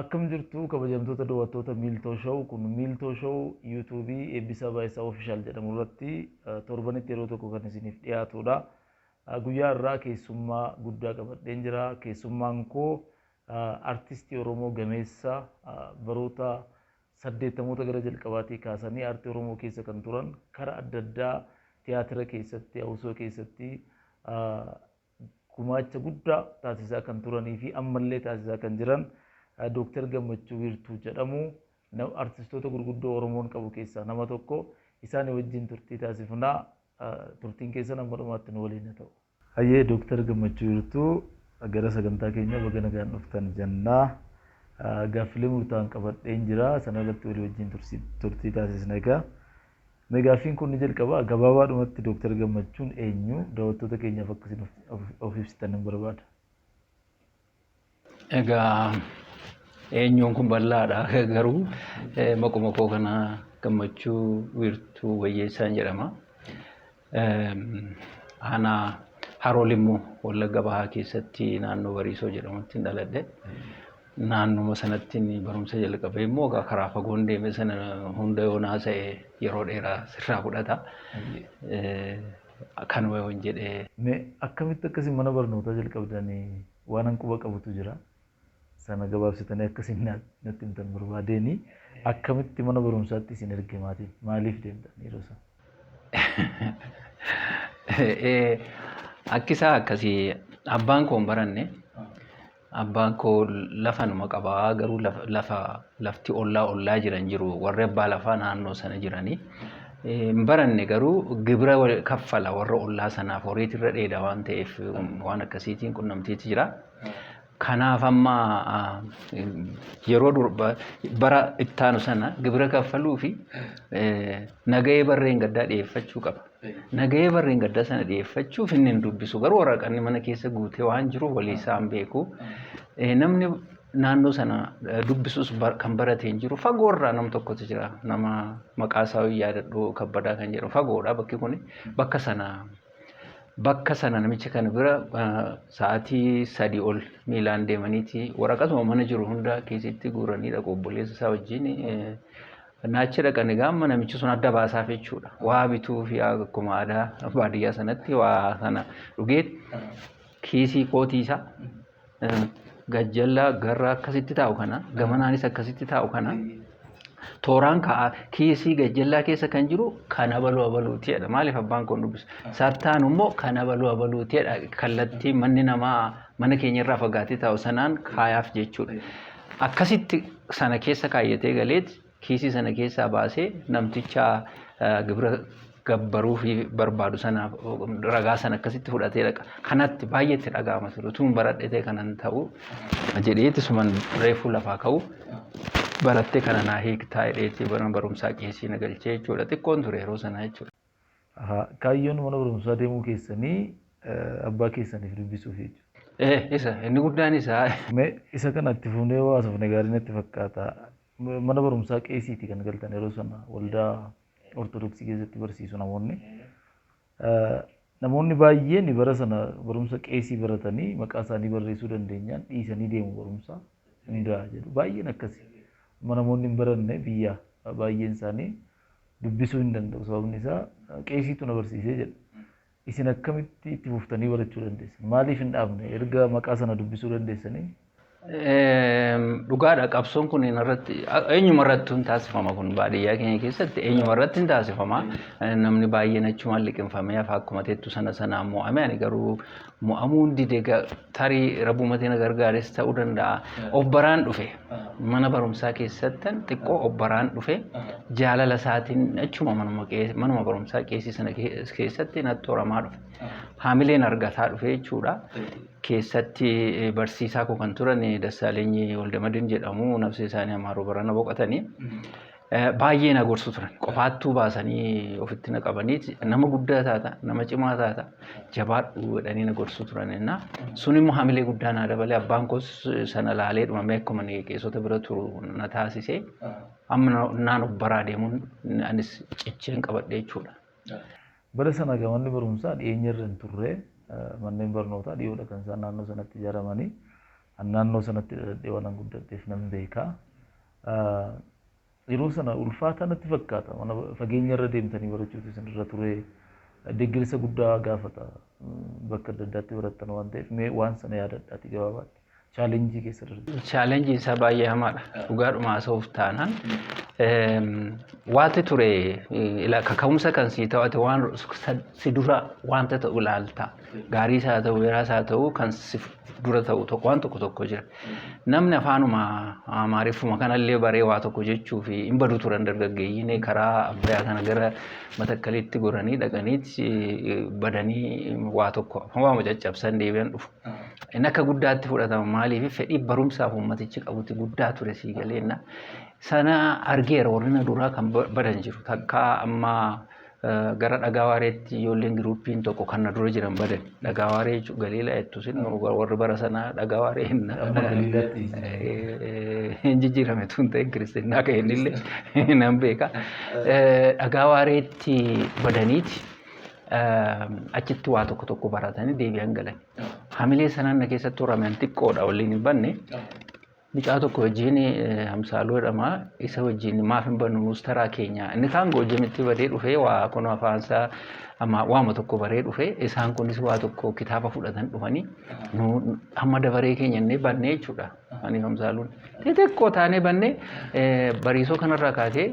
Akkam jirtu kabajamtoota dowattoota Miiltoo Show kun Miiltoo Show YouTube Eebbisaa Baay'isaa Official jedhamu irratti torbanitti yeroo tokko kan isiniif dhiyaatuudha. Guyyaa har'aa keessummaa guddaa qabadheen jira. Keessummaan koo artistii Oromoo gameessa baroota saddeettamoota gara jalqabaatii kaasanii aartii Oromoo keessa kan turan kara adda addaa tiyaatira keessatti, hawusoo keessatti gumaacha guddaa taasisaa kan turanii fi ammallee taasisaa kan jiran Dooktar Gammachuu Wiirtuu jedhamu. Artistoota gurguddoo Oromoon qabu keessaa nama tokko. Isaanii wajjin turtii taasifna. Turtiin keessan amma dhumaatti nu waliin haa ta'u. Hayyee Dooktar Gammachuu Wiirtuu gara sagantaa keenya baga nagaan dhuftan jenna. Gaaffilee murtaa'an qabadheen jira. Sana irratti walii wajjin turtii taasisna egaa. Mee gaaffiin kun ni jalqaba. Gabaabaadhumatti Dooktar Gammachuun eenyu? Daawwattoota keenyaaf akka isin of ibsitan nan barbaada. Egaa eenyuun kun bal'aadha garuu maquma koo kana gammachuu wiirtuu wayyeessaan jedhama. Aanaa Haroo Limmuu Wallagga Bahaa keessatti naannoo Bariisoo jedhamutti dhaladhe. Naannuma sanatti barumsa jalqabee immoo egaa karaa fagoon deeme sana hunda yoon haasa'e yeroo dheeraa sirraa fudhata. Kanuma yoon jedhe. Mee akkamitti akkasi mana barnootaa jalqabdanii waanan quba qabutu jira. sana gabaabsitanii akka isin natti himtan barbaadeeni. Akkamitti mana barumsaatti isin erge maatiin? Maaliif deemtan yeroo sana? Akki isaa akkasii abbaan koo hin baranne. Abbaan koo lafa numa qaba garuu lafa lafti ollaa ollaa jiran jiru warri abbaa lafaa naannoo sana jiranii. Hin baranne garuu gibira kaffala warra ollaa sanaaf horiitirra dheeda waan ta'eef waan akkasiitiin qunnamtiitti jira. Kanaaf amma yeroo bara ittaanu sana gibira kaffaluu fi nagahee barreen gaddaa dhiyeeffachuu qaba. Nagahee barreen gaddaa sana dhiyeeffachuuf inni hin dubbisu garuu waraqanni mana keessa guutee waan jiruuf walii isaan beeku. Namni naannoo sana dubbisus kan barate hin jiru fagoorraa nam tokkotu jira nama maqaa isaa yaadadhu kabbadaa kan jedhu fagoodha bakki kun bakka sana bakka sana namicha kana bira sa'aatii sadii ol miilaan deemaniiti waraqatuma mana jiru hunda kiisitti guuranii dhaqu obboleessa isaa wajjin naachi dhaqan egaa amma namichi sun adda baasaaf jechuudha waa bituu fi akkuma aadaa baadiyyaa sanatti waa sana dhugee kiisii kootii isaa gajjallaa garraa akkasitti taa'u kana gamanaanis akkasitti taa'u kana tooraan ka'a kiisii gajjallaa keessa kan jiru kan abaluu abaluuti jedha maaliif abbaan kun dubbisa sattaan immoo kan abaluu abaluuti jedha kallattii manni namaa mana keenya irraa fagaatee taa'u sanaan kaayaaf jechuudha akkasitti sana keessa kaayyatee galeeti kiisii sana keessaa baasee namticha gibira gabbaruu fi barbaadu sanaaf ragaa sana akkasitti fudhatee dhaqa. Kanatti baay'ee itti dhaga'ama ture. Utuun baradhetee kanan ta'u jedheetti suman reefuu lafaa ka'u barattee kana naa hiiktaa jedheetti bara barumsaa kiisii na galchee jechuudha. Xiqqoon ture yeroo sana jechuudha. Ahaa, Kaayyoon mana barumsaa deemuu keessanii eh, abbaa keessaniif dubbisuuf jechuudha. Eh, isa inni guddaan isaa Mee isa kana itti fufnee yoo haasofne gaarii natti fakkaata. Mana barumsaa qeesiiti kan galtan yeroo sana waldaa ortodoksii keessatti barsiisu namoonni. Namoonni baay'een bara sana barumsa qeesii baratanii maqaa isaanii barreessuu dandeenyaan dhiisanii deemu barumsa hundaa jedhu. Baay'een akkasi. Amma namoonni hin baranne biyya baay'een isaanii dubbisuu hin danda'u sababni isaa qeesiitu na barsiisee jedhu. Isin akkamitti itti fuftanii barachuu dandeessan? Maaliif hin dhaabne erga maqaa sana dubbisuu dandeessanii? Dhugaadha qabsoon kun irratti eenyuma irratti hin taasifama kun baadiyyaa keenya keessatti eenyuma irratti hin taasifama namni baay'een achumaan liqinfamee hafa akkuma teettu sana sana mo'ame ani garuu mo'amuu hin dide tarii rabbumatiin gargaares ta'uu danda'a of baraan dhufe Mana barumsaa keessattan xiqqoo obbaraan dhufe jaalala isaatiin achuma manuma qees- manuma barumsaa qeesii sana kee- keessatti natti horamaa dhufe. Haamileen argataa dhufe jechuudha. Keessatti eh, barsiisaa koo kan turan eh, Dassaalenyi Waldamadin jedhamu nafsee isaanii Amaaroo barana boqotanii. Baay'ee na gorsu turan. Qofaattuu baasanii ofitti na qabanii nama guddaa taata, nama cimaa taata, jabaadhu jedhanii na gorsu turan. Sun immoo hamilee guddaa naa dabalee abbaan koos sana laalee dhumamee akkuma qeessota bira turu na taasisee amma naan of baraa deemuun anis cicheen qabadhe jechuudha. Bara sana egaa manni barumsaa dhiyeenya irra hin turre. Manneen barnootaa dhiyoodha kan isaan naannoo sanatti ijaaramanii. An naannoo sanatti dhaladhee waanan guddadheef nan beeka. Yeroo sana ulfaataa natti fakkaata. Mana fageenyarra deemtanii barachuutu isinirra ture. Deeggarsa guddaa gaafata. Bakka adda addaatti barattan waan ta'eef mee waan sana yaadadhaatii gabaabaatti chaalenjii keessa darbe. Chaalenjiin isaa baay'ee hamaadha. Dhugaadhuma haasa'uuf taanaan. Waanti ture ila kaka'umsa kan sii ta'ate waan si dura waanta ta'u ilaalta. Gaariis haa ta'u, beeraas haa ta'u kan si dura ta'u tokko waan tokko tokko jira. Namni afaanuma amaariffuma kanallee baree waa tokko jechuu fi hin badu turan dargaggeeyyiin karaa abbayaa kana gara matakkaliitti goranii dhaqaniitti badanii waa tokko waama caccabsan deebi'an dhufu. Inni akka guddaatti fudhatama maaliif fedhii barumsaaf uummatichi qabuti guddaa ture sii galeenna. Sana argeera warrina duraa kan badan jiru takkaa amma Gara Dhagaa Waareetti ijoolleen giruuppiin tokko kan na dura jiran badan. Dhagaa Waaree jechuun Galiilaa jettu isin warri bara sanaa Dhagaa Waaree hin hin jijjiirame tun ta'e kiristinnaa ka'e innillee nan beeka. Dhagaa Waareetti badaniiti achitti waa tokko tokko baratanii deebi'an galan. Hamilee sanaan na keessatti horame an xiqqoodha waliin hin banne Mucaa tokko wajjin Hamsaaluu jedhama. Isa wajjin maaf hin bannu nuus taraa keenya. Inni kaan goojjamitti badee dhufee waa kun afaansaa amma waama tokko baree dhufee isaan kunis waa tokko kitaaba fudhatan dhufanii nu amma dabaree keenya inni bannee jechuudha. Ani Hamsaaluun xixiqqoo taanee bannee bariisoo kanarraa kaatee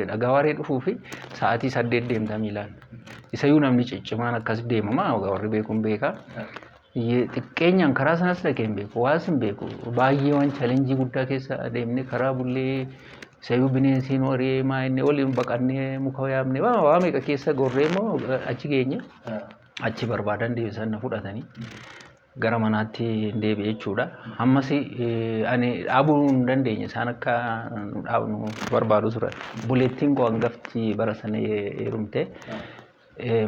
dhagaa waaree dhufuu fi sa'aatii saddeet deemta miilaan. Isayyuu namni ciccimaan akkas deemama warri beekuun beekaa. Eyyee xiqqeenyaan karaa sanas dhaqee hin beeku. Waas hin beeku. Baay'ee waan challenge guddaa keessa adeemne karaa bullee sayyuu bineensiin waree maa inni waliin baqannee muka yaamne waa waa meeqa keessa gorree immoo achi geenye achi barbaadan deebisan na fudhatanii gara manaatti hin deebi'e jechuudha. Ammas eh, ani dhaabuu hin dandeenye isaan akka nu dhaabnu barbaadu turan. Buleettiin koo hangafti bara sana heerumte.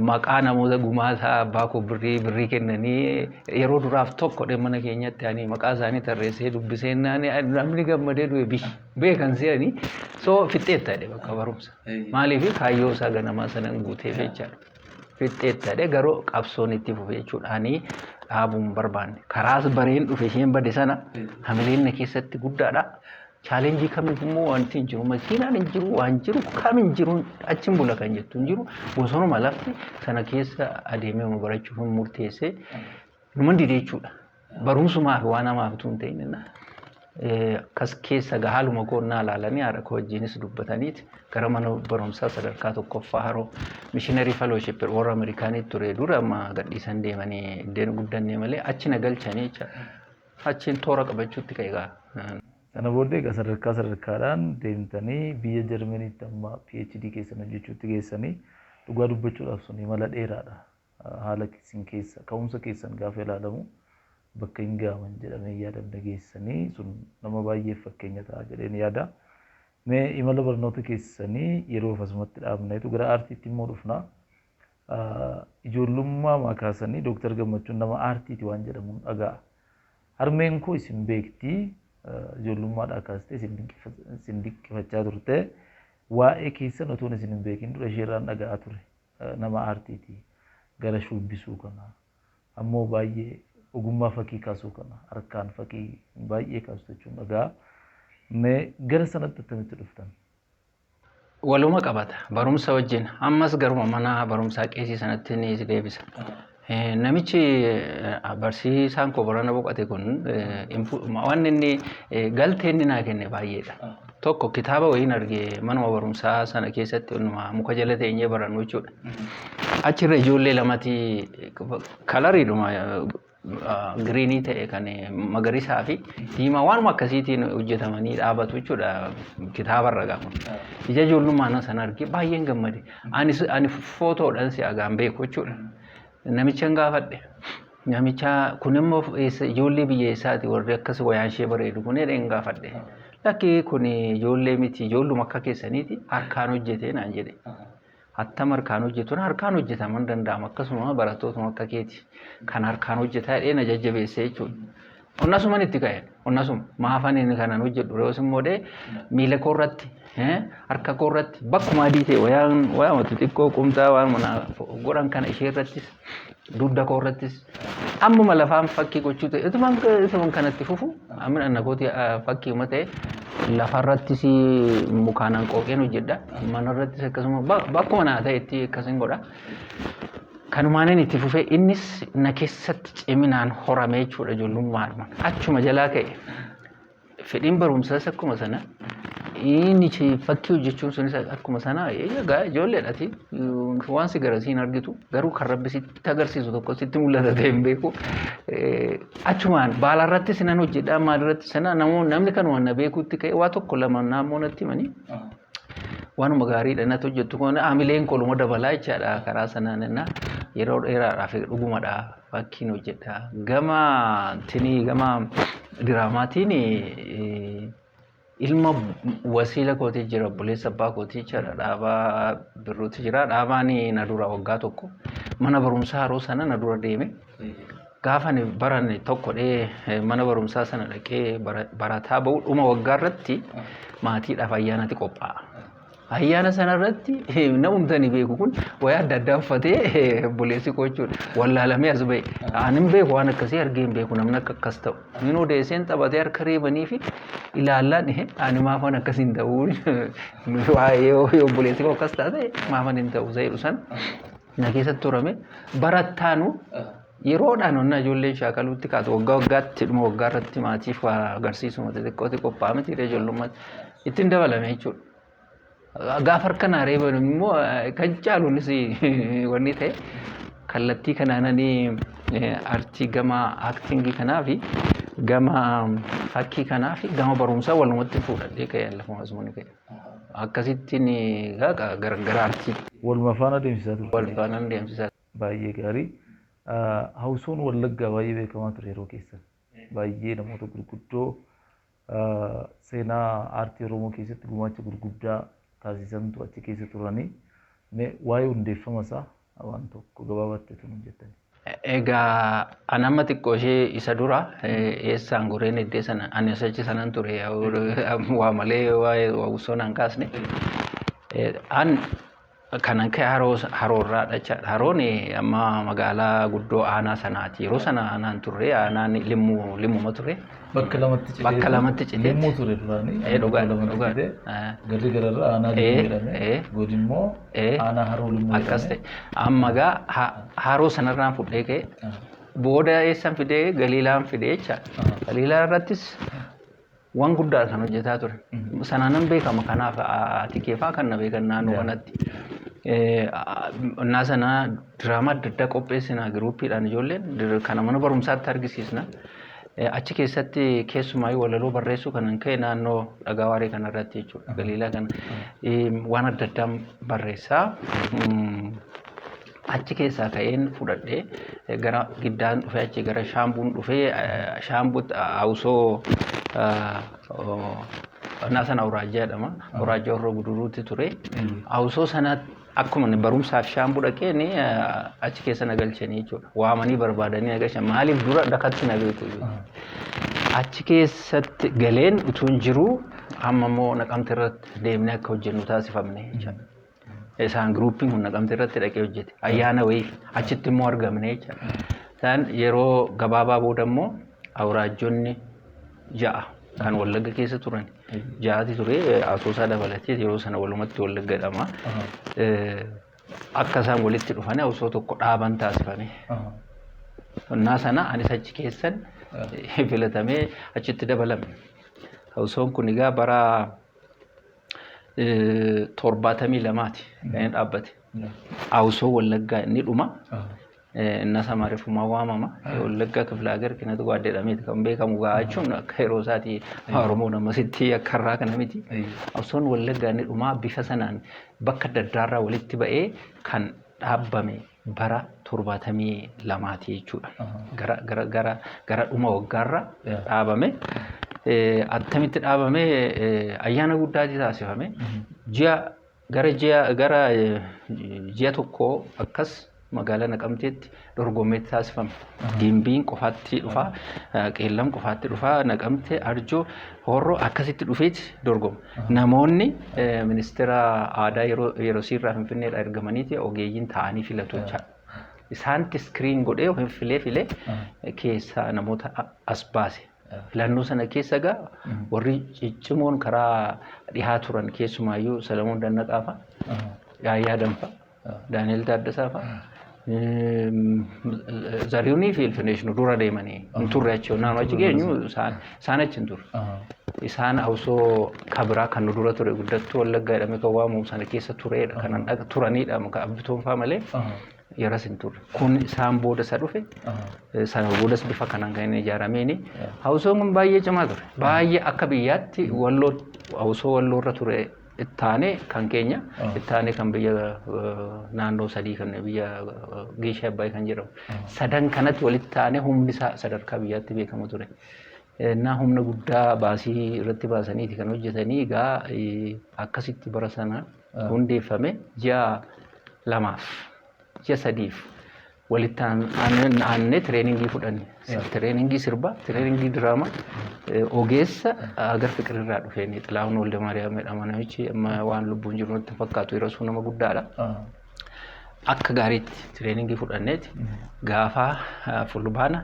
maqaa namoota gumaasaa abbaa koo birrii birrii kennanii yeroo duraaf tokko dhe mana keenyatti ani maqaa isaanii tarreessee dubbisee naani namni gammadee du'e bi beekan se'anii soo fixxeetta dhe bakka barumsa maaliif kaayyoo isaa ganamaa sanan guutee jechaadha fixxeetta dhe garuu qabsoon itti fufe jechuudha ani dhaabuun barbaanne karaas bareen dhufe isheen bade sana hamileen na keessatti guddaadha Chaalenjii kamiif immoo wanti hin jiru. Makiinaan hin jiru, waan jiru, kam hin jiru, achiin bula kan jettu hin jiru. Bosonuma lafti sana keessa adeemee nu barachuuf hin murteessee numan dide jechuudha. Barumsumaa fi waan hamaaf utuu hin ta'in akkas keessa gaa haaluma koo naa ilaalanii haadha koo wajjinis dubbataniit gara mana barumsaa sadarkaa tokkoffaa haroo mishiinarii fellowship warra Ameerikaanii ture dura amma gadhiisan deemanii iddeen guddannee malee achi na galchanii jechaadha. Achiin toora qabachuutti ka'e gaa. Sana booddee egaa sadarkaa sadarkaadhaan deemtanii biyya Jarmaniitti amma PhD keessan hojjechuutti geessanii dhugaa dubbachuudhaaf sun imala dheeraadha. Haala isin keessa ka'umsa keessan gaafa ilaalamu bakka hin ga'aman jedhamee hin yaadamne geessanii sun nama baay'eef fakkeenya ta'a jedheen yaada. Mee imala barnoota keessanii yeroof asumatti dhaabneetu gara aartiitti immoo dhufna. Ijoollummaamaa kaasanii Doktar Gammachuun nama aartiiti waan jedhamun dhaga'a. Harmeen koo isin beekti. Ijoollummaadhaa kaastee isin dinqifachaa turte. Waa'ee keessan otoon isin hin beekin dura isheerraan dhaga'aa ture. Nama aartiiti. Gara shuubbisuu kana. Ammoo baay'ee ogummaa fakii kaasuu kana. Harkaan fakii baay'ee kaastu jechuun dhaga'a. Mee gara sanatti attamitti dhuftan? Waluma qabata barumsa wajjin ammas garuma mana barumsaa qeesii sanatti ni si deebisa. Eh, Namichi eh, barsiisaan koo barana boqate kun eh, infu- ma- waan inni eh, galtee inni naa kenne baay'eedha. Tokko kitaaba wayiin arge manuma barumsaa sana keessatti onnuma muka jala teenyee barannu jechuudha. Achirra ijoollee lamati kalariidhuma giriinii ta'e kan magarisaa fi diimaa waanuma akkasiitiin hojjetamanii dhaabatu jechuudha kitaaba irra gaafa. Ija ijoollummaan sana argee baay'een gammade. Ani ani footoodhaan si agaan beeku jechuudha. Namichan gaafadhe. Namicha kun immoo eessa- ijoollee biyya eessaati warri akkas wayaan ishee bareedu kun jedheen gaafadhe. Lakki kun ijoollee miti ijoolluma akka keessaniiti harkaan hojjetee naan jedhe. Attam harkaan hojjetuun harkaan hojjetaman hin danda'amu. Akkasuma barattootuma akka keeti kan harkaan hojjetaa jedhee na jajjabeesse jechuudha. Onnasuman itti ka'e. Onnasuma. Maafan inni kanan hojjedhu re'oos immoo dhee miila koo irratti harka koo irratti bakkuma adii ta'e wayaan waanuma xixiqqoo qumxaa waanuma godhan kana ishee irrattis dugda koo irrattis ammuma lafaan fakkii gochuu ta'e utuman utuman kanatti fufu amma anna kooti fakkii uma ta'e lafarrattis mukaanaan qooqeen hojjedha manarrattis akkasuma bakkuma naa ta'etti akkasin godha. Kanumaanin itti fufee innis na keessatti ciminaan horame jechuudha ijoollummaadhuma achuma jalaa ka'e Fedhiin barumsaas akkuma sana inni fakkii hojjechuun sunis akkuma sana egaa ijoolleedhaati waan si gara siin argitu garuu kan rabbi sitti agarsiisu tokko sitti mul'ata ta'e hin beeku achumaan baala irratti sinan hojjedhaa maal irratti sana namoonni namni kan waan na beekuutti ka'e waa tokko lama naammoo natti himanii waanuma gaarii dha natti hojjettu kun hamileen koo dhuma dabalaa jechaadha karaa sanaan inna yeroo dheeraadhaaf dhugumadha fakkiin hojjedha gama tinii gama diraamaatiin ilma wasiila kooti jira obboleessa abbaa kooti jechaadha dhaabaa birruuti jira dhaabaan na dura waggaa tokko mana barumsaa haroo sana na dura deeme. Gaafa ani baran tokko dhee mana barumsaa sana dhaqee barataa ba'u dhuma waggaa irratti maatiidhaaf ayyaanati qophaa'a. Ayyaana sana irratti namumti ani beeku kun wayaa adda addaa uffatee obboleessi koo jechuudha. Wallaalamee as ba'e. Ani hin beeku waan akkasii argee hin beeku namni akka akkas ta'u. Inni odeesseen taphatee harka reebanii fi ilaallaan ihe ani maaf waan akkas hin ta'u. Waa'ee obboleessi koo akkas taate maaf ani hin ta'u isa jedhu sana. na keessatti turame barattaanu yeroodhaan onnaa ijoolleen shaakaluutti kaatu waggaa waggaatti dhuma waggaa irratti maatiif waa agarsiisu mata xiqqooti qophaa'aa miti irra ijoollummaa ittiin dabalame jechuudha. Gaafa harka naa reeban immoo eh, kan caaluunis wanni ta'e kallattii kanaananii artii gama aktingii kanaa fi gama fakkii kanaa fi gama barumsaa walumatti fuudhadhee ka'e lafa masuun ka'e. Akkasitti ni gaga gargaraarti. Waluma faana adeemsisaa turte Wal jechuudha. faanaan deemsisaa ture. Baay'ee gaarii. Hawusoon Wallaggaa baay'ee beekamaa ture yeroo keessan. Baay'ee namoota gurguddoo seenaa aartii Oromoo keessatti gumaacha gurguddaa taasisantu achi keessa turani. Mee waa'ee hundeeffama isaa waan tokko gabaabatti utuu nuuf jettanii. Egaa an amma xiqqoo ishee isa dura eessaan goreen eddee sana ani achi sanan ture waa malee waa'ee waawusoo naan kaasne. An kanan ka'e haroo haroorraa dhachaadha. Haroon amma magaalaa guddoo aanaa sanaati. Yeroo sana aanaan turre aanaan limmuu limmuma ture. Bakka lamatti citee. Bakka lamatti citee. Limmuu ture duraanii. Ee dhugaa Bakka lamatti dhugaa. citee. Ee. Garri gararra aanaa Ee, limmuu jedhame. ee. Goodi immoo Ee. aanaa haroo limmuu jedhame. Akkas ta'e. Amma gaa ha- haroo sanarraan fudhee ka'e. Ah. Booda eessan fidee galiilaan fidee jecha. Ah. Galiilaa irrattis waan guddaa kan hojjetaa ture. Mhm. Sanaanan beekama kanaaf ati keefaa kan na beekan naannoo Yeah. kanatti. Eh, a- Innaa sanaa diraamaa adda addaa qopheessina giruuppiidhaan ijoolleen dir- kana mana barumsaatti argisiisna. Achi keessatti keessumaayyuu walaloo barreessuu kanan ka'e naannoo dhagaa waaree kana irratti jechuudha. Galiilaa kana waan adda addaa barreessaa. Achi keessaa ka'een fudhadhee gara giddaan dhufee achi gara shaambuun dhufee shaambuutti hausoo Naasan Awuraajjaa jedhama. Awuraajjaa Horroo Guduruutti ture. Hausoo sanatti Akkuma ani barumsaaf Shaambuu dhaqeen achi keessa na galchanii jechuudha. Waamanii barbaadanii na galchan. Maaliif dura dakatti na beeku jechuudha. Achi keessatti galeen utuun jiruu amma immoo naqamte irratti deemnee akka hojjennu taasifamne jechuudha. Isaan giruupiin kun naqamte irratti dhaqee hojjete. Ayyaana wayiif achitti immoo argamne jechuudha. Isaan yeroo gabaabaa booda immoo awuraajjonni ja'a kan Wallagga keessa turan ja'ati ture Asoosaa dabalatee yeroo sana walumatti Wallagga jedhama. Akka isaan walitti dhufanii osoo tokko dhaaban taasifame. Onnaa sana anis achi keessan filatamee achitti dabalame. Osoon kun egaa bara torbaatamii lamaati kan inni dhaabbate. Awusoo Wallaggaa inni dhuma innas amma refumaa waamama wallaggaa kifla hagar kinatu waa jedhameeti kan beekamu gaa jechuun akka yeroo isaati oromoon ammasitti akka irraa kana miti qabsoon wallaggaa inni dhumaa bifa sanaan bakka adda addaarraa walitti ba'ee kan dhaabbame bara torbaatamii lamaati jechuudha gara gara gara gara dhuma waggaarra dhaabame attamitti dhaabame ayyaana guddaati taasifame ji'a gara ji'a gara ji'a tokkoo akkas magaalaa Naqamteetti dorgommee taasifama. Gimbiin qofaatti dhufa, Qeellam qofaatti dhufa, Naqamte, Arjoo, Horroo akkasitti dhufeeti dorgoma. Namoonni ministeera aadaa yeroo yerosiirraa Finfinneedhaa ergamaniiti ogeeyyiin taa'anii filatu jecha. Isaanitti iskiriin godhee filee filee keessaa namoota as baase. Filannoo sana keessa egaa warri ciccimoon karaa dhihaa turan keessumaayyuu Salamoon Dannaqaa fa'a, Yaayyaa Danfa, Daani'el Taaddasaa fa'a, Zariyunii fi Ilfinesh nu dura deemanii hin turre achi onnaan achi geenyu isaan isaan achi hin turre. Isaan hawsoo kabiraa kan nu dura ture guddattuu wallaggaa jedhamee kan waamamu sana keessa tureedha kanan dhaqa turanidha kan abbitoon fa'a malee. yaras hin turre. Kun isaan booda isa dhufe. Sana boodas bifa kanaan kan inni ijaarameeni. Hawusoon kun baay'ee cimaa ture. Baay'ee akka biyyaatti walloo hawusoo walloo irra ture ittaanee kan keenya ittaanee kan biyya naannoo sadii kan biyya Geeshee Abbaay kan jedhamu. Sadan kanatti walitti taanee humni isaa sadarkaa biyyaatti beekamu ture. Innaa humna guddaa baasii irratti baasaniiti kan hojjetanii egaa akkasitti bara sana hundeeffame ji'a lamaaf ji'a sadiif walitti aanne tireeningii fudhanne. Tireeningii sirbaa, tireeningii diraamaa ogeessa agar fiqirirraa dhufeen Xilaahun Walda Maariyaam jedhama namichi amma waan lubbuun jiru natti fakkaatu yeroo sun nama guddaadha. Akka gaariitti tireeningii fudhanneeti gaafa fulbaana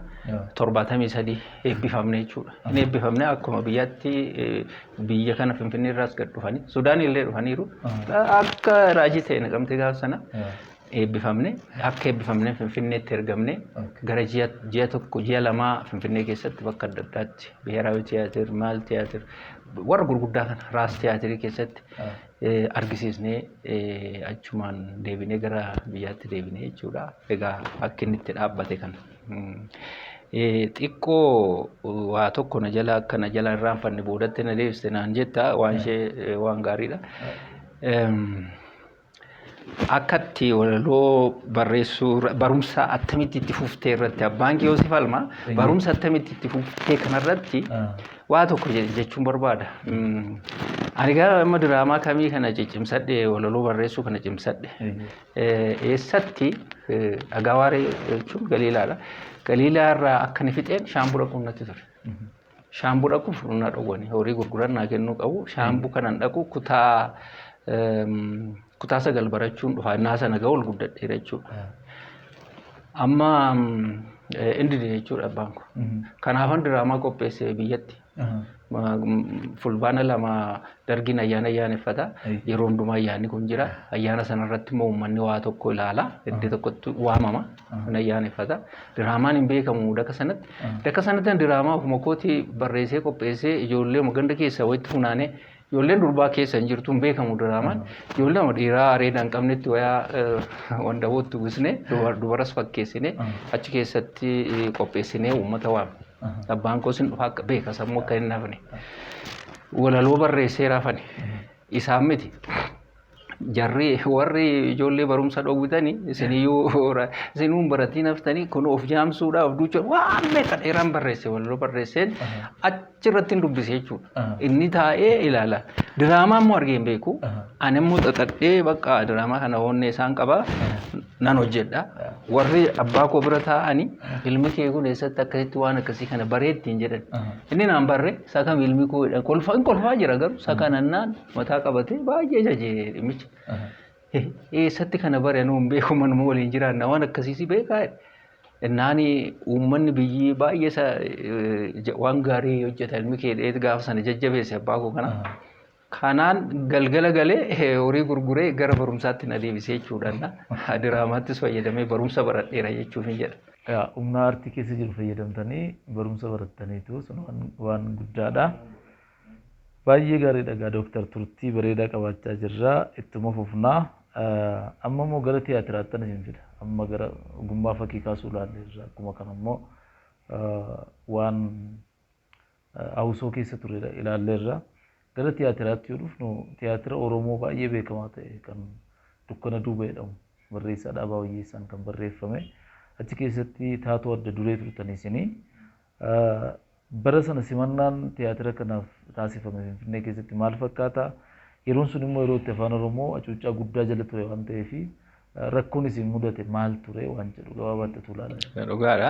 torbaatamii sadii eebbifamne jechuudha. Hin eebbifamne akkuma biyyaatti biyya kana Finfinnee irraas gad dhufanii Sudaanii illee dhufaniiru. Akka raajii ta'e naqamtee gaafa sana eebbifamne akka eebbifamne Finfinneetti ergamne gara ji'a ji'a tokko ji'a lamaa Finfinnee keessatti bakka adda addaatti biheeraawi tiyaatir maal tiyaatir warra gurguddaa kana raas tiyaatirii keessatti eh, argisiisnee eh, achumaan deebinee gara biyyaatti deebinee jechuudha. Egaa akka inni itti dhaabbate kana. Xiqqoo waa tokko na jala akka na jala irraanfanne boodatti na deebiste naan jetta waan ishee waan gaariidha. Akkatti walaloo barreessuu barumsa attamitti itti fuftee irratti abbaan kee Yoosef Almaa barumsa attamitti itti fuftee kanarratti waa tokko jechuun barbaada. Ani gara amma diraamaa kamii kana ciccimsadhe walaloo barreessuu kana cimsadhe. Eessatti? Dhagaa waaree jechuun Galiilaadha. Galiilaa irraa akka ni fixeen shaambuu dhaquun natti ture. Shaambuu dhaquuf na dhowwani. Horii gurguran naa kennuu qabu. Shaambuu kanan dhaqu kutaa kutaa sagal barachuun dhufa. Innaa sana ga'u ol guddadheera jechuudha. Amma inni dide jechuudha abbaan koo. Kanaafan diraamaa qopheesse biyyatti. Fulbaana lama dargiin ayyaana ayyaaneffata. Yeroo hundumaa ayyaanni kun jira. Ayyaana sanarratti immoo uummanni waa tokko ilaala. Iddoo tokkotti waamama. Kun ayyaaneffata. Diraamaan hin beekamu daka sanatti. Daka sanatti diraamaa ofuma kooti barreessee qopheessee ijoollee ganda keessaa walitti funaanee Ijoolleen durbaa keessa hin jirtu hin beekamu diraamaan. Ijoollee nama dhiiraa areeda hin qabnetti wayaa wandabootti uwwisne dubaras fakkeessine achi keessatti qopheessinee uummata waame. Abbaan koos hin dhufa akka beeka sammuu akka hin hafne. Walaloo barreessee rafani. Isaan miti. jarri warri ijoollee barumsa dhowwitani isiniyyuu isinuu hin baratiin haftanii kun of jaamsuudha of duucha waan meeqa dheeraan barreesse walirra barreesseen achirratti hin dubbise jechuudha. Inni taa'ee ilaala. Diraamaa immoo argee hin beeku. Ani immoo xaxadhee bakka diraamaa kana hoonnee isaan qaba nan hojjedha. Warri abbaa koo bira taa'anii ilmi kee kun eessatti akkasitti waan akkasii kana bareetti hin jedhan. Inni naan barre isa kam ilmi koo jedhan kolfa hin kolfaa jira garuu isa kanannaan mataa qabatee baay'ee jaje dhimmicha. Eessatti kana bare anuu hin beeku manuma waliin jiraanna waan akkasiisi beekaa naani uummanni biyyi baay'ee isa waan gaarii hojjeta ilmi kee dheet gaafa sana jajjabeesse abbaa koo kana. Kanaan galgala galee horii gurguree gara barumsaatti na deebisee jechuudhaan diraamaattis fayyadamee barumsa baradheera jechuuf hin jedha. Humna aartii keessa jiru fayyadamtanii barumsa barattaniitu sun waan guddaadha. Baay'ee gaariidha egaa Doktar turtii bareedaa qabaachaa jirra ittuma fufna. Amma immoo gara tiyaatiraattan isin fida. Amma gara ogummaa fakkii kaasuu ilaalleerra akkuma kana immoo waan hawusoo keessa ture ilaalleerra. Gara tiyaatiraatti yoo dhufnu tiyaatira Oromoo baay'ee beekamaa ta'e kan Dukkana Duuba jedhamu barreessaa Dhaabaa Wayyeessaan kan barreeffame achi keessatti taatoo adda duree turtan isinii. Bara sana simannaan tiyaatira kanaaf taasifame Finfinnee keessatti maal fakkaata? Yeroon sun immoo yeroo itti Afaan Oromoo hacuuccaa guddaa jala ture waan ta'eef rakkoon isin mudate maal ture waan jedhu gabaabaatti utuu ilaalame. Dhugaadha.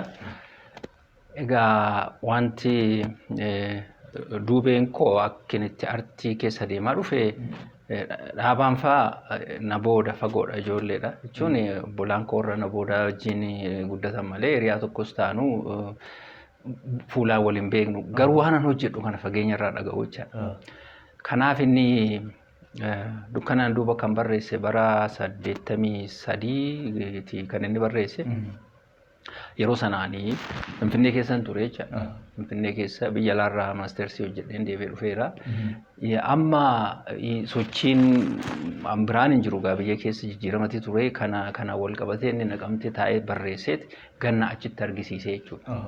Egaa wanti duubeen koo akkin itti artii keessa deemaa dhufe Dhaabaan faa na booda fagoodha ijoolleedha jechuun obbolaan koorra na booda wajjin guddatan malee hiriyaa tokkos taanu fuulaan wal hin beeknu garuu waanan hojjedhu kana fageenya irraa dhaga'u jechaadha. Kanaaf inni dukkanaan duuba kan barreesse bara saddeettamii sadiiti kan inni barreesse. Yeroo sanaani Finfinnee keessan ture jecha. Finfinnee keessa biyya alaarraa maasteersii hojjedheen deebi'ee dhufeera. Amma sochiin an biraan hin jiru gaa biyya keessa jijjiiramati ture kana kana wal qabatee inni naqamtee taa'ee barreesseet ganna achitti argisiisee jechuudha.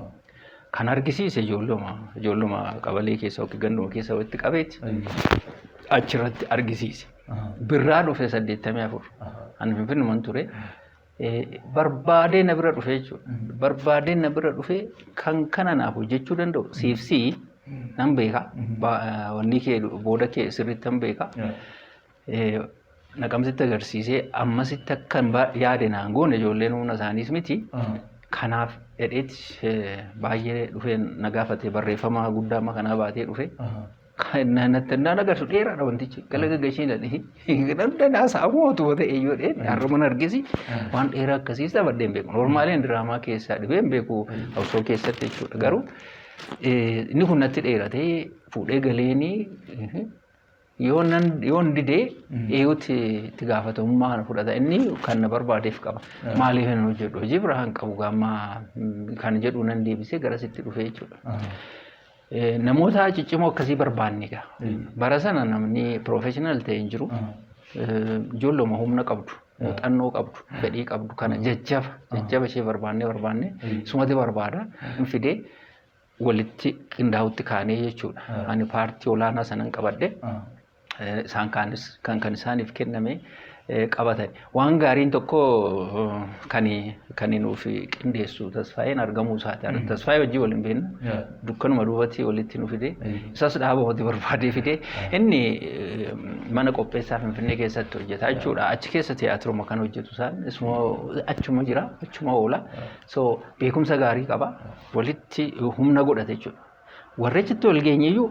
Kan argisiise ijoolluma ijoolluma qabalee keessa yookiin ganduma keessa walitti qabeeti achirratti argisiise. Birraa dhufe saddeettamii afur. Ani finfinnuman ture. barbaadee na bira dhufe jechuudha. Barbaadee na bira dhufe kan kana naaf hojjechuu danda'u siif si nan beeka. Wanni kee booda kee sirriitti nan beeka. Naqamsitti agarsiisee ammasitti akka yaade naan goone ijoolleen humna isaaniis miti. Kanaaf dhedheetti baay'ee dhufee na gaafate barreeffama guddaa amma kanaa baatee dhufe. Naan agarsu dheeraadha wantichi. Gala gaggashee ilaalee. Namni naas hawwatu wata eeyyoo dhee har'uman argisi waan dheeraa akkasiis taphadhee hin beeku. Noormaaliin diraamaa keessaa dhibee hin beeku osoo keessatti jechuudha. Garuu inni kun natti dheeratee fuudhee galeeni yoo nan yoo hin didee eeyuutti itti gaafatamummaa kana fudhata inni kan na barbaadeef qaba. Maaliif hin hojjedhu hojii biraa hin qabu gaammaa kan jedhu nan deebisee gara sitti dhufee jechuudha. Namoota ciccimoo akkasii barbaanne egaa. Bara sana namni professional ta'e hin jiru. Ijoolluma humna qabdu, muuxannoo qabdu, fedhii qabdu kana jajjaba jajjaba ishee barbaannee barbaannee sumati barbaada hin fidee walitti qindaa'utti kaanee jechuudha. Ani paartii olaanaa sanan qabadhe isaan kaanis kan kan isaaniif kenname qabatan. Waan gaariin tokko kan kan nuuf qindeessu tasfaayeen argamuu isaati. Tasfaayee wajjin waliin beekna. Dukkanuma duubatti walitti nu fide. Isas dhaaba hojii barbaadee fide. Inni mana qopheessaa Finfinnee keessatti hojjeta jechuudha. Achi keessa tiyaatiruma kan hojjetu isaan isuma achuma jira achuma oola. So beekumsa gaarii qaba. Walitti humna godhate jechuudha. Warri achitti wal geenye iyyuu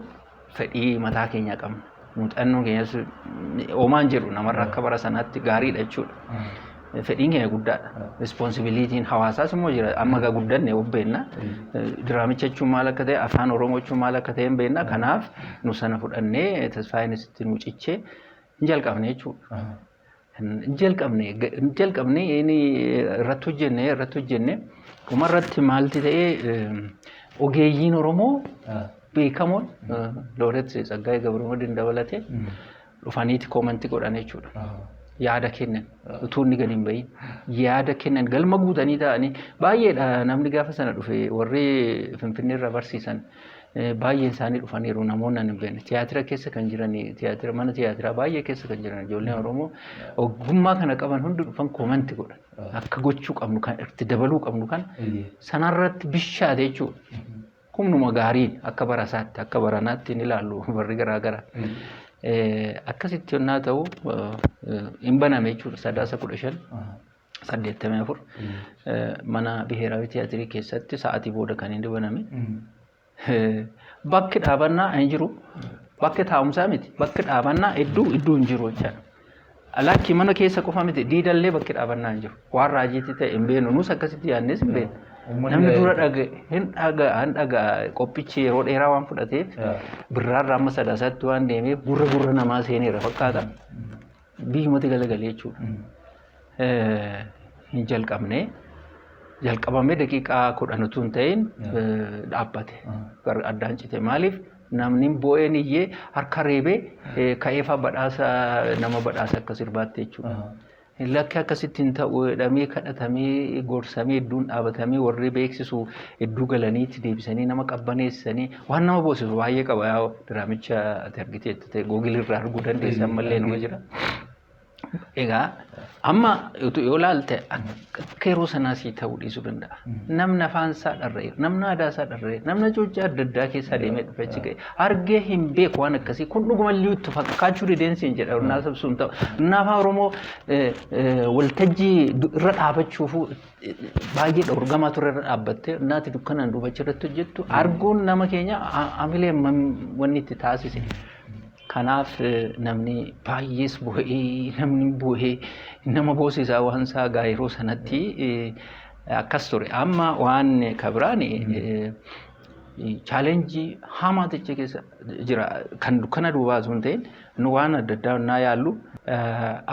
fedhii mataa keenyaa qabna. Muuxannoon keenyas oomaan jedhu namarra akka bara sanaatti gaariidha jechuudha. Fedhiin keenya guddaadha. Rispoonsibiliitiin hawaasaas immoo jira. Amma egaa guddanne of beenna. Diraamicha jechuun maal akka ta'e, afaan Oromoo jechuun maal akka ta'e hin beenna. Kanaaf nu sana fudhannee tasfaayeen sitti nu cichee hin jalqabne jechuudha. jalqabne jalqabne inni irratti hojjenne irratti hojjenne dhuma irratti maalti ta'e ogeeyyiin Oromoo beekamoon Looret Tsaggaayee Gabrumadiin dabalatee dhufaniiti koomantii godhan jechuudha. Yaada kennan utuu inni gadi hin bahin yaada kennan galma guutanii ta'anii baay'eedha namni gaafa sana dhufe warri Finfinneerra barsiisan Baay'een isaanii dhufaniiru namoonni ani beekne. Tiyaatira keessa kan jiran tiyaatira mana tiyaatiraa baay'ee keessa kan jiran ijoolleen Oromoo ogummaa kana qaban hundi dhufan koomanti godhan. Akka gochuu qabnu kan itti dabaluu qabnu kan sanarratti bishaate jechuudha. Humnuma gaariin akka bara isaatti akka baranaatti hin ilaallu barri garaa garaa. Akkasitti yennaa ta'u hin baname jechuudha sadaasa kudha shan. 84 mana biheeraawi tiyaatirii keessatti sa'aatii booda kan inni baname. Bakki dhaabannaa hin jiru. Bakki taa'umsaa miti. Bakki dhaabannaa hedduu hedduu hin jiru jechaadha. Lakkii mana keessa qofa miti diidallee bakki dhaabannaa hin jiru. Waan raajiitti ta'e hin beenu nus akkasitti yaadnees hin beenu. Namni dura dhaga'e hin dhaga'a hin dhaga'a qophichi yeroo dheeraa waan fudhateef birraarraa amma sadaasaatti waan deemeef gurra gurra namaa seeneera fakkaata. biyyumatti galagalee jechuudha. Hin jalqabne jalqabamee daqiiqaa kudhan utuu hin ta'in dhaabbate addaan cite maaliif namni boo'een iyyee harka reebee ka'eefaa badhaasa nama badhaasa akka sirbaatti jechuudha. Lakki akkasitti hin ta'u jedhamee kadhatamee gorsamee idduun dhaabatamee warri beeksisu idduu galaniitti deebisanii nama qabbaneessanii waan nama boosisu baay'ee qaba diraamicha ati argiteet. Google irraa arguu dandeessa ammallee nama jira. Egaa amma utuu yoo ilaalte akka akka yeroo sanaa sii ta'uu dhiisuu danda'a. Namni afaan isaa dharra'e, namni aadaa isaa dharra'e, namni cuuccaa adda addaa keessaa deemee dhufe achi ga'e. Argee hin beeku waan akkasii kun dhuguma illee itti fakkaachuu dideensi hin jedha. Innaa sabsuun ta'u. Innaa afaan Oromoo eh, eh, waltajjii du- irra dhaabachuufuu baay'ee dhorgamaa ture irra dhaabbattee naati dukkanaan duubacha irratti hojjettu arguun nama keenya hamilee wanni itti taasise. Kanaaf namni baay'ees bu'ee namni bu'ee nama boosisaa waan isaa gaa yeroo sanatti akkas ture. Amma waan kabiraan chaalenjii hamaa ta'e keessa jira. Kan dukkana duubaa osoo hin ta'in nu waan adda addaa naa yaallu.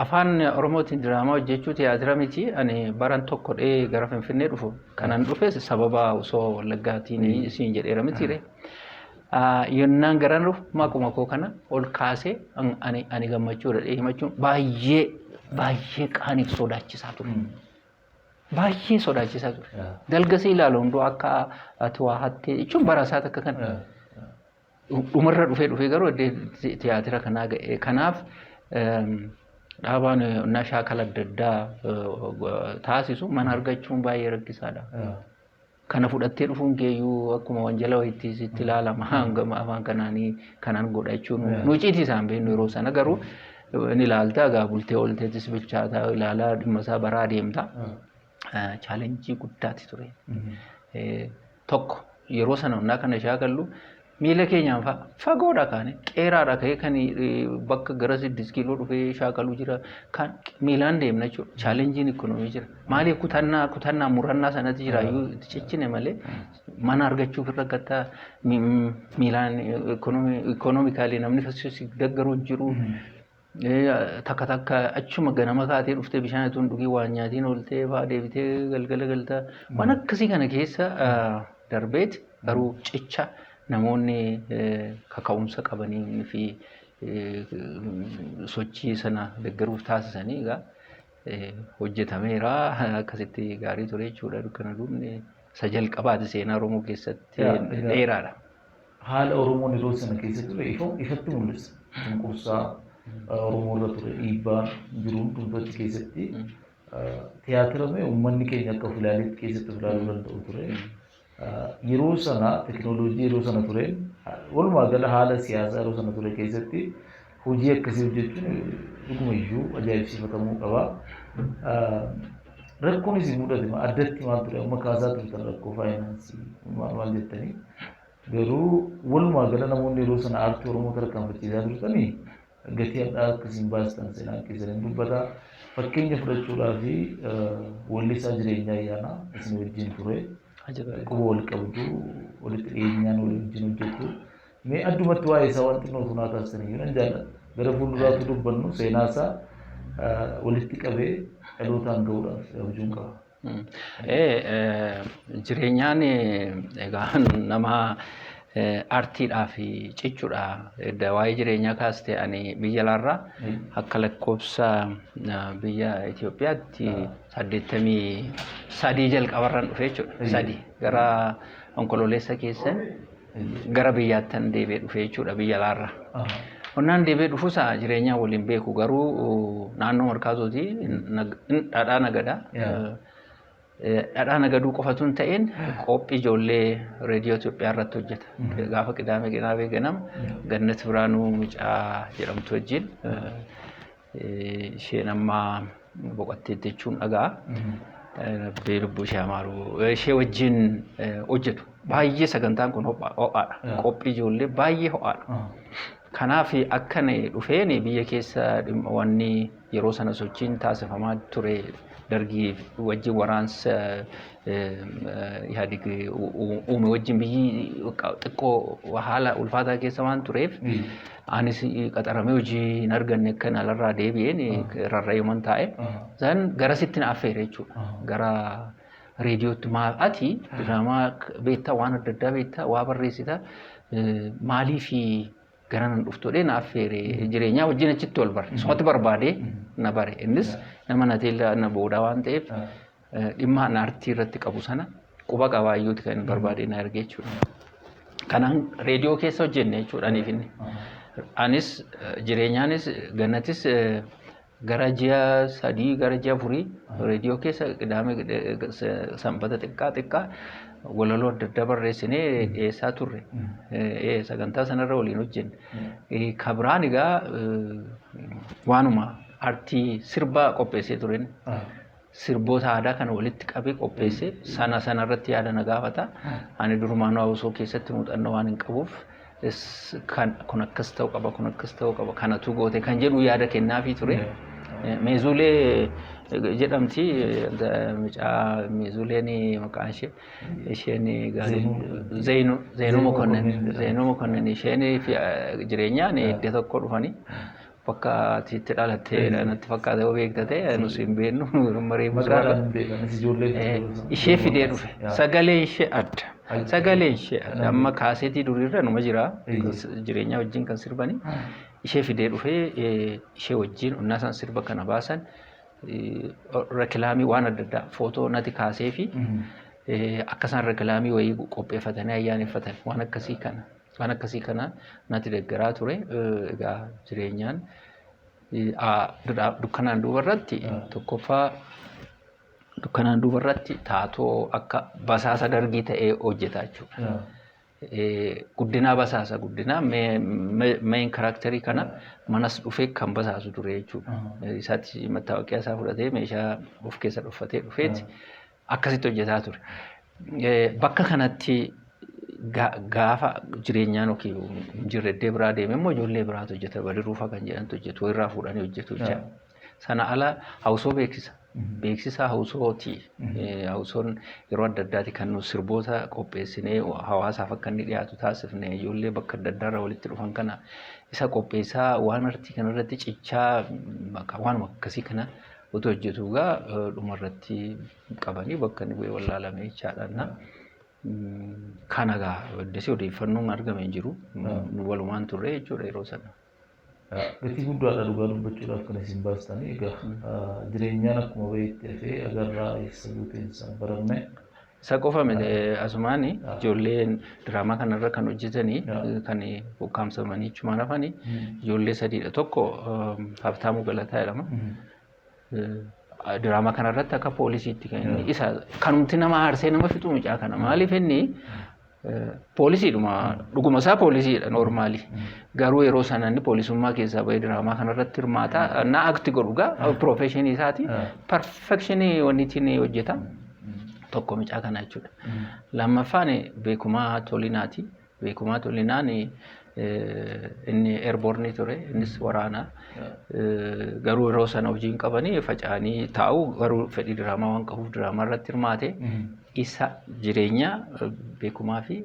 Afaan Oromootiin diraamaa hojjechuu tiyaatira miti. Ani baran tokko dhee gara Finfinnee dhufu. Kanan dhufes sababa osoo Wallaggaatiin siin jedheera mitiire. Yennaan garan dhufu maquma koo kana ol kaasee ani gammachuudha dhee himachuun baay'ee baay'ee qaaniif sodaachisaa ture. Baay'ee sodaachisaa ture. Dalga si ilaalu hunduu akka ati waa hattee jechuun bara isaa takka kan dhumarra dhufee dhufee garuu tiyaatira kanaa ga'e. Kanaaf dhaabaan onnaa shaakala adda addaa taasisu mana argachuun baay'ee rakkisaadha. Kana fudhattee dhufuun kee iyyuu akkuma wanjala wayiitti sitti ilaalama. Hangama afaan kanaanii kanan godha jechuun nu icciitii isaan beeknu yeroo sana garuu ni ilaalta egaa bultee oolteetis bilchaataa ilaalaa dhimma isaa baraa adeemta. Chaalenjii guddaati ture. Tokko yeroo sana onnaa kana shaakallu miila keenyaan fa'a fagoodha kaane qeeraadha ka'ee kan bakka gara siddis kiiloo dhufee shaakaluu jira kan miilaan deemna jechuudha. Chaalenjiin ikkonoomii jira. Maaliif kutannaa kutannaa murannaa sanatti jira iyyuu itti cichine malee mana argachuuf irra gataa miilaan ikkonoomikaalii namni si deggaru hin jiru. Takka takka achuma ganama kaatee dhuftee bishaan ituun dhugii waan nyaatiin ooltee fa'aa deebitee galgala galta. Waan akkasii kana keessa darbeet garuu cicha namoonni kaka'umsa qabanii fi sochii sana deggeruuf taasisanii egaa hojjetameera akkasitti gaarii ture jechuudha dukkana duubni isa jalqabaati seenaa Oromoo keessatti dheeraadha. Haala Oromoon yeroo sana keessa ture ifa ifatti mul'isa. Cunqursaa Oromoo irra ture dhiibbaa jiru hundumtuu achi keessatti tiyaatira mee uummanni keenya akka of ilaaletti keessatti of ilaaluu danda'u ture. Yeroo sana tekinooloojii yeroo sana tureen walumaa gala haala siyaasaa yeroo sana ture keessatti Hojii akkasii hojjechuun dhuguma iyyuu ajaa'ibsiifatamuu qaba. Rakkoon isin mudate ma- addatti maal ture? Amma kaasaa turtan rakkoo faayinaansii maal maal jettanii? Garuu walumaa gala namoonni yeroo sana aartii Oromoo tarkaanfachiisaa turtanii gatii hadhaa akka isin baastan seenaan keessan hin dubbata. Fakkeenya fudhachuudhaa fi wallisaa jireenyaa ayyaanaa isin wajjin ture. Ajaba. Quba wal qabdu walitti dhiyeenyaan walii wajjin hojjettu. Mee addumatti waa'ee isaa waan xinnoo utuu naa kaastaniyyuu nan jaalladha. Gara fuulduraa utuu dubbannu seenaa isaa walitti qabee dhalootaan ga'uudhaaf abjuun qaba. Jireenyaan egaa nama artiidhaa fi cichuudha. Edda waa'ee jireenyaa kaaste ani biyya alaarraa akka lakkoofsa biyya Itoophiyaatti saddeettamii sadii jalqabarran dhufe jechuudha. Sadii gara onkololeessa keessan gara biyyaattan deebi'ee dhufe jechuudha biyya alaarra. Qonnaan deebi'ee dhufusa jireenyaa waliin beeku garuu naannoo markaatooti dhadhaa nagada. Dhadhaa nagaduu qofatu hin ta'in qophii ijoollee reediyoo Itoophiyaa irratti hojjeta. Gaafa qidaamee qidaamee ganama gannat biraanuu mucaa jedhamtu wajjin isheen amma boqatteetti jechuun dhaga'a. Rabbi lubbuu ishee haa maaru. Ishee wajjin hojjetu. Baay'ee sagantaan kun ho'aadha. Qophii ijoollee baay'ee ho'aadha. Kanaaf akka dhufeen biyya keessa wanni yeroo sana sochiin taasifamaa ture dargii wajjin waraansa Ihaadig uume wajjin biyyi xiqqoo haala ulfaataa keessa waan tureef Anis qaxaramee hojii hin arganne akka alarraa deebi'een rarra'eeman taa'e. Isaan garasitti na affeere jechuudha. Gara reediyootti maal ati diraamaa beektaa waan adda addaa beektaa waa barreessita maalii fi gara nan dhuftoodhee na affeere jireenyaa wajjin achitti wal bare. Isumatti barbaadee na bare. Innis nama na teellaa na boodaa waan ta'eef dhimma an artii irratti qabu sana quba qabaayyuuti kan barbaadee na erge jechuudha. Kanaan reediyoo keessa hojjenne jechuudha aniif inni. Anis jireenyaanis gannatis gara ji'a sadii gara ji'a afurii reediyoo keessa qidaame sanbata xiqqaa xiqqaa walaloo adda addaa barreessinee dhiyeessaa turre. Sagantaa sanarra waliin hojjenne. Kabiraan egaa waanuma artii sirbaa qopheessee turen. sirboota aadaa kana walitti qabee qopheesse sana sana irratti yaada na gaafata. Ani durumaanuu Awusoo keessatti muuxannoo waan hin qabuuf is- kan- kun akkas ta'uu qaba kun akkas ta'uu qaba kanatu goote kan jedhu yaada kennaafii ture. Eh, Meezuulee eh, jedhamti eh, da- mucaa meezuuleen maqaan ishee isheen gaarii Zeenuu. Zeenuu Zeenuu Mokonnin Mokonnin. Zeenuu Mokonnin isheen fi eh, jireenyaan iddoo tokko dhufanii Bakka ati itti dhalatte natti fakkaata yoo beekta ta'e nus hin beeknu maree Maqaadhaan hin beekan ati ijoollee jirtu. Ishee fidee dhufe sagalee ishee adda sagalee ishee adda amma kaaseetii duriirra numa jira jireenyaa wajjin kan sirbani ishee fidee dhufe ishee wajjin onnaa isaan sirba kana baasan rekilaamii waan adda addaa footoo nati kaasee fi akka isaan rekilaamii wayii qopheeffatanii ayyaaneffatan waan akkasii kana. Waan akkasii kana natti deggeraa ture. Egaa jireenyaan dukkanaan duuba irratti tokkoffaa dukkanaan duuba irratti taatoo akka basaasa dargii ta'ee hojjeta jechuudha. Guddinaa basaasa guddinaa main karakterii kana manas dhufee kan basaasu ture jechuudha. Isaatti mattaawaqiyaa isaa fudhatee meeshaa of keessa dhuffatee dhufeeti. akkasitti hojjetaa ture. Bakka kanatti gaafa jireenyaan yookiin jirreddee biraa deeme immoo ijoollee biraatu hojjeta badiruufa kan jedhantu hojjetu irraa fuudhanii hojjetu jecha. Sana ala hawusoo beeksisa. Beeksisa hawusooti. Hawusoon yeroo adda addaati kan nu sirboota qopheessinee hawaasaaf akka inni dhiyaatu taasifne ijoollee bakka adda addaarra walitti dhufan kana isa qopheessaa waan artii kanarratti cichaa waanuma akkasii kana Utuu hojjetuu egaa dhuma irratti qabanii bakka inni bu'ee wallaalame jechaadha. Kana egaa addasii odeeffannoon argame hin jiru. Nu walumaan turre jechuudha yeroo sana. Gatii guddaadha dhugaa dubbachuudhaaf kan isin baastanii egaa jireenyaan akkuma baheetti hafee agarraa eessa buuteen isaa hin baramne Isa qofa miti asumaan ijoollee diraamaa kanarra kan hojjetanii kan ukkaamsamanii achumaan hafan ijoollee sadiidha. Tokko Habtaamuu Galataa jedhama. Diraamaa kanarratti akka poolisiitti kan inni isa kanumti nama aarsee nama fixu mucaa kana maaliif inni Poolisiidhuma dhuguma isaa poolisiidha noormaali. Garuu yeroo sana inni poolisummaa keessaa bahee diraamaa kanarratti hirmaata. Na akti godhu gaa piroofeeshinii isaati. Perfekshinii waniitiin hojjeta. Tokko mucaa kana jechuudha. Lammaffaan beekumaa tolinaati. Beekumaa tolinaan inni eerboornii ture innis waraana garuu yeroo sana hojii hin qabanii faca'anii taa'u garuu fedhii diraamaa waan qabuuf diraamaa irratti hirmaate isa jireenya beekumaa fi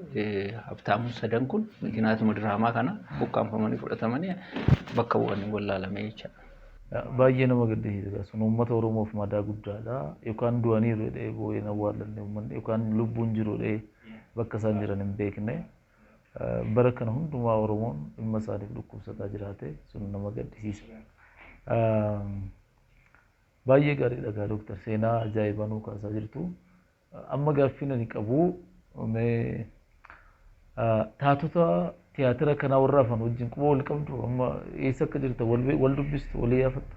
habtaamuun sadan kun mikinyaatuma diraamaa kana buqqaanfamanii fudhatamanii bakka bu'anii wallaalamee jechaadha. Baay'ee nama gaddisiisa sun uummata Oromoof madaa guddaadha yookaan du'aniiru jedhee boo'ee hin awwaallanne uummanni yookaan lubbuun jiru jedhee bakka isaan jiran hin beekne. Bara kana hundumaa Oromoon dhimma isaaniif dhukkubsataa jiraate sun nama gaddisiisa. Baay'ee gaariidha gaa Dooktar seenaa ajaa'ibaa nuu kaasaa jirtu. Amma gaaffiin ani qabu mee taatota tiyaatira kanaa warra hafan wajjin quba wal qabdu amma eessa akka jirtan wal dubbistu wal iyyafattu.